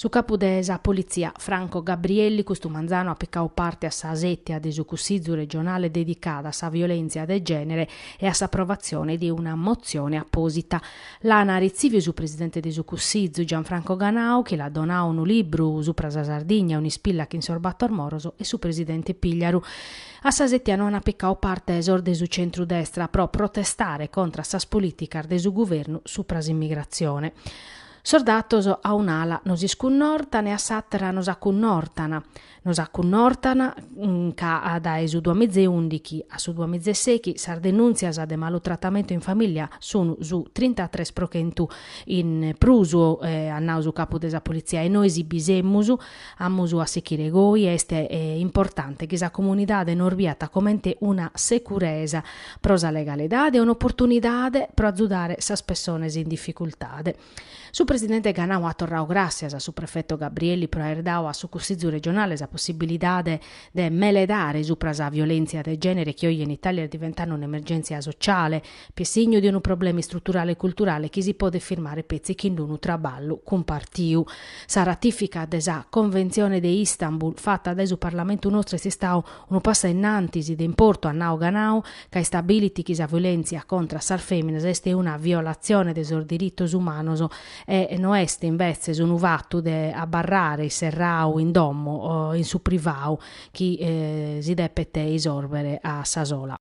Su capu de sa politzia, Franco Gabrielli, custu manzanu at picau parte a sa sètia de su Cussizu regionale dedicada a sa violèntzia de gènere e a s'aprovatzione de una motzione apòsita. L'ana retzìviu su presidente de su Cussizu, Gianfranco Ganau, chi l'at donau unu libru supra sa Sardigna, un'ispilla chin sos bator moros e su presidente Pigliaru. A sa sètia no ant picau parte sos de su centru-destra pro protestare contra sas polìticas de su guvernu supra s'immigratzione. Sos datos a un'ala nos iscunnortan e a s'àtera nos acunnortan. Nos acunnortan ca dae su duamizeundichi a su duamizeseichi sas denùntzias de malutratamentu in famìllia sunt su trintatres pro chentu in prus, at nau su capu de sa politzia, e nois bi semus, Amus a sichire goi, est importante chi sa comunidade nos biat comente una securesa pro sa legalidade e un'oportunidade pro azudare sas pessones in dificultade. Su presidente Ganau at torrau gràssias a su prefetu Gabrielli pro aer dadu a su Cussizu regionale sa possibilidade de meledare supra sa violèntzia de gènere chi oje in Itàlia est diventande un'emergèntzia sociale, chi est signu de unu problema istruturale e culturale chi si podet firmare petzi chin unu traballu cumpartiu. Sa ratifica de sa Conventzione de Istanbul fata dae su Parlamentu nostru est istau unu passu a innantis de importu at nau Ganau ca istabilit chi sa violèntzia contra sas fèminas est una violatzione de sos diritos umanos e no est invetzes unu fatu de abarrare isserrau in domo o in su privau chi si depet isòrbere a sa sola.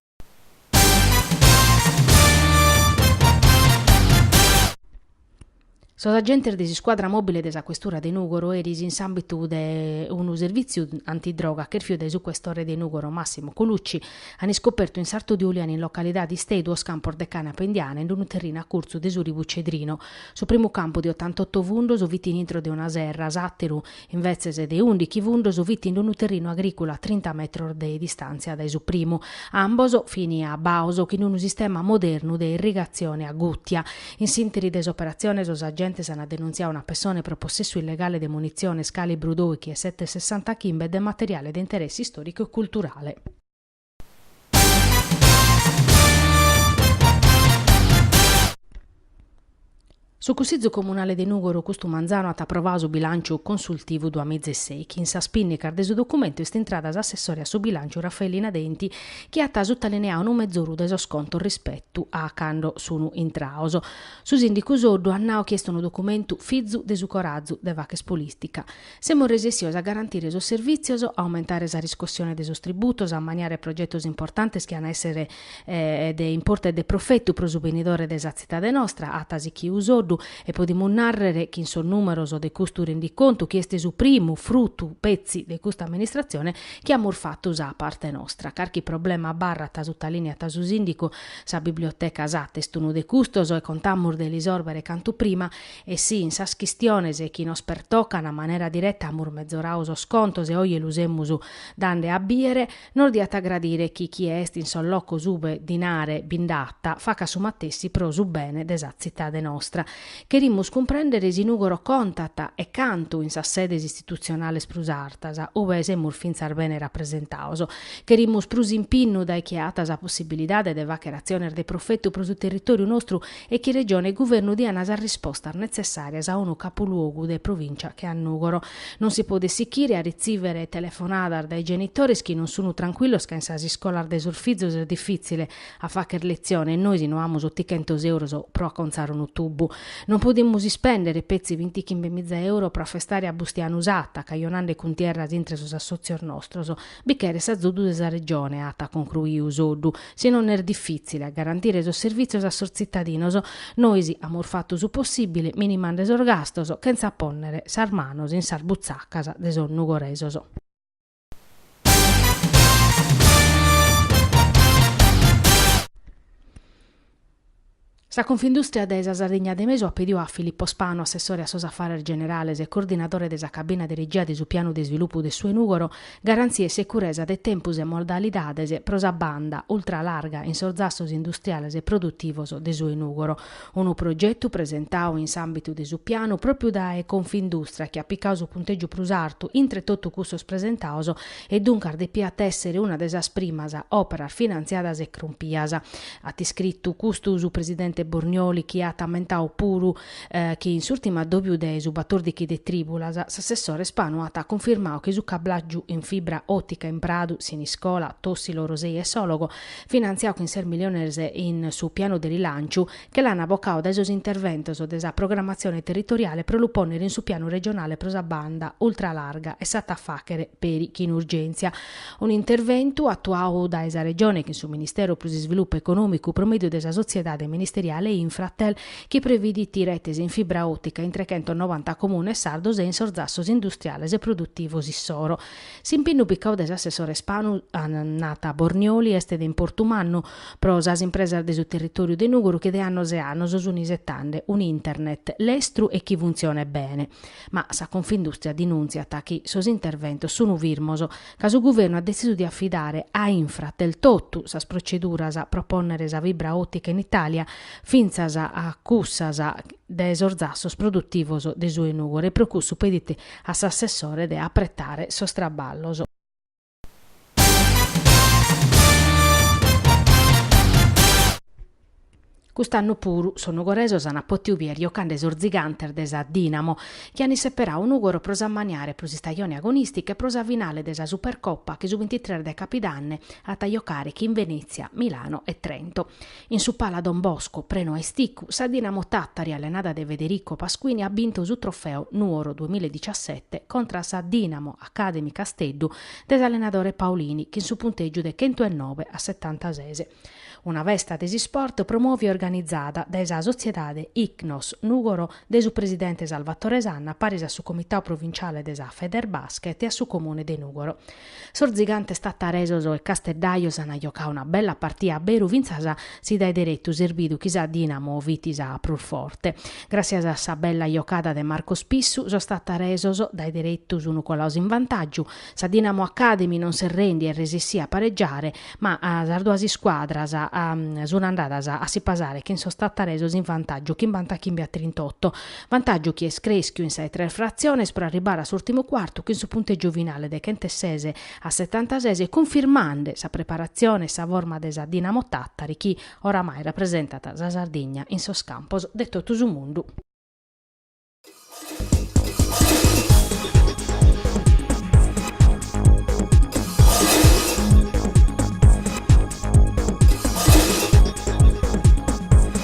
Sos agentes de s'iscuadra mòbile de sa questura de Nùgoro eris in s'àmbitu de unu servìtziu antidroga chèrfiu dae su questore de Nùgoro Massimo Colucci ant iscopertu in sartu de Uliana in localidade Istei duos campos de cànapa indiana in unu terrinu a curtzu de su ribu Cedrino. Su primu campu de otantoto fundos fit in intro de una serra, s'àteru Invetzes de undichi fundos fit in unu terrinu agrìculu a trinta metros de distàntzia dae su primu. Ambos fin abbaos chin unu sistema modernu de irrigatzione a gùtia. In s'ìnteri de s'operatzione sos agentes ant denuntziau una pessone pro possessu illegale de munitziones calibru doichi e sete sessanta chimbe e de materiale de interessi istòricu e culturale. Su Cussizu Comunale de Nùgoro custu manzanu at aprovadu su bilànciu consultivu duamizeseichi. In sas pìnnicas de su documentu est intrada s'assessore a su bilànciu Raffaellina Denti chi at sutalineadu unu mezoru de sos contos rispetu a cando sunu intrados. Su sìndicu Soddu at nau chi est unu documentu fizu de su corazu de fàcher polìtica. Semus resessios a garantire sos servìtzios, a aumentare sa riscossione de sos tributos, a ammaniare progetos importantes chi an a èssere de importu e de profetu pro su benidore de sa tzitade nostra, at sichiu Soddu, e podimus nàrrere chin sos nùmeros de custu rendicontu, chi est su primu frutu petzi de custa amministratzione, chi amus fatu sa parte nostra. Carchi problema abarrat, sutalìniat su sìndicu, sa biblioteca Satta est unu de custos e contamus de l'isòrbere cantu prima. E si, in sas chistiones chi nos pertocan a manera direta amus mezorau sos contos e oje lu semus dande a bìere, nos diat a gradire chi chie est in sos locos ube dinare bi nd'at, facat su matessi pro su bene de sa tzitade nostra. Cherimus cumprèndere si Nùgoro contat, e cantu, in sas sedes istitutzionales prus artas, ube semus fintzas bene rapresentaos. Cherimus prus impinnu dae chie at sa possibilidade de fàchere atziones de profetu pro su territòriu nostru e chi Regione e Guvernu diana sas rispostas netzessàrias a unu capuluogu de provìncia che a Nùgoro. Non si podet sichire a ritzìvere telefonadas dae genitores chi non sunu trancuillos ca in sas iscolas de sos fizos est difìtzile a fàcher letzione e nois no amus otichentos euros pro acontzare unu tubu. Non podimus ispèndere petzi bintichimbe miza euro pro afestare a Bustianu Satta, cajonande cuntierras intre sos assòtzios nostros. Bi cheret s'azudu de sa Regione, at concruiu Soddu, si non est difìtzile a garantire sos servìtzios a sos tzitadinos. Nois amus fatu su possìbile minimande sos gastos chentza pònnere sas manos in sas butzacas de sos nugoresos. Sa Confindùstria de sa Sardigna de Mesu at pediu a Filippo Spanu, assessore a sos afares generales e coordinadore de sa cabina de regia de su pianu de isvilupu de su 'e Nùgoro, garantzia e securesa de tempus e modalidades pro sa banda ultralarga in sos zassos industriales e produtivos de su 'e Nùgoro. Unu progetu presentau in s'àmbitu de su pianu pròpriu dae Confindùstria chi at picau su puntègiu prus artu intre totu cussos presentaos e duncas depiat èssere una de sas primas òperas finantziadas e crumpias at iscritu custu su presidente Bornioli chi at ammentau puru chi in s'ùrtimu addòbiu de su batòrdichi de trìbulas s'assessore Spanu at cunfirmau chi su cablàgiu in fibra òtica in Pradu, Siniscola, Tòssilo, Orosei e Sòlogo, finantziau chin ses miliones in su pianu de rilànciu, che l'an bocau dae sos interventos de sa programmatzione territoriale pro lu pònnere in su pianu regionale pro sa banda ultralarga e s'at a fàchere peri chin urgèntzia. Unu interventu atuau dae sa Regione chin su Ministeru pro s'Isvilupu Econòmicu pro mèdiu de sa sotziedade ministeriale Infratel chi previdit retes in fibra òtica in trechentos novanta comunes sardos e in sos zassos industriales e produtivos issoro. S'impinnu picau de s'assessore Spanu, nat Bornioli, est de importu mannu pro sas impresas de su territòriu de Nùgoro chi de annos e annos sunt isetande un'Internet lestru e chi funtzionet bene. Ma sa Confindustria dinùntziat chi sos interventos sunu firmos, ca su guvernu at detzisu de afidare a Infratel totu sas proceduras pro pònnere sa fibra òtica in Itàlia, fintzas a cussas de sos zassos produtivos de su 'e Nùgore e pro cussu pedit a s'assessore de apretare sos traballos. Cust'annu puru sos nugoresos ant pòtidu bider giocande sos zigantes de sa Dinamo, chi ant isseperadu Nùgoro pro s'ammaniare pro s'istajone agonìstica e pro sa finale de sa Supercopa chi su bintitres de capidanne ant a giocare chin Venètzia, Milano e Trento. In su Pala Don Bosco, prenu a isticu, sa Dinamo Tattari allenada de Federico Pasquini at bintu su trofeu Nuoro duemiladiciassette contra a sa Dinamo Academy Casteddu de s'allenadore Paolini chin su puntègiu de chentu e nobe a setantases. Una festa de s'isport promòvia e organizada dae sa sotziedade Icnos Nugoro de su presidente Salvatore Sanna paris a su comitau provinciale de sa Federbasket e a su comune de Nugoro. Sos zigantes tattaresos e casteddajos an jocadu una bella partia a beru fintzas si dae deretu s'est bidu chi sa Dinamo fit sa prus forte. Gràssias a sa bella jocada de Marco Spissu sos tattaresos dae deretu sun colados in vantàgiu, sa Dinamo Academy non si rendet e resessit a paregiare ma sas duas iscuadras sun andadas a si pasare chin sos tattaresos in vantàgiu chimbantachimbe a trintotto Vantàgiu chi est crèschiu in sa 'e tres fratziones pro arribare a s'ùrtimu cuartu chin su puntègiu finale de chenteses a setantases cunfirmande sa preparatzione e sa forma de sa Dinamo Tàtari chi oramai rapresentat sa Sardigna in sos campos de totu su mundu.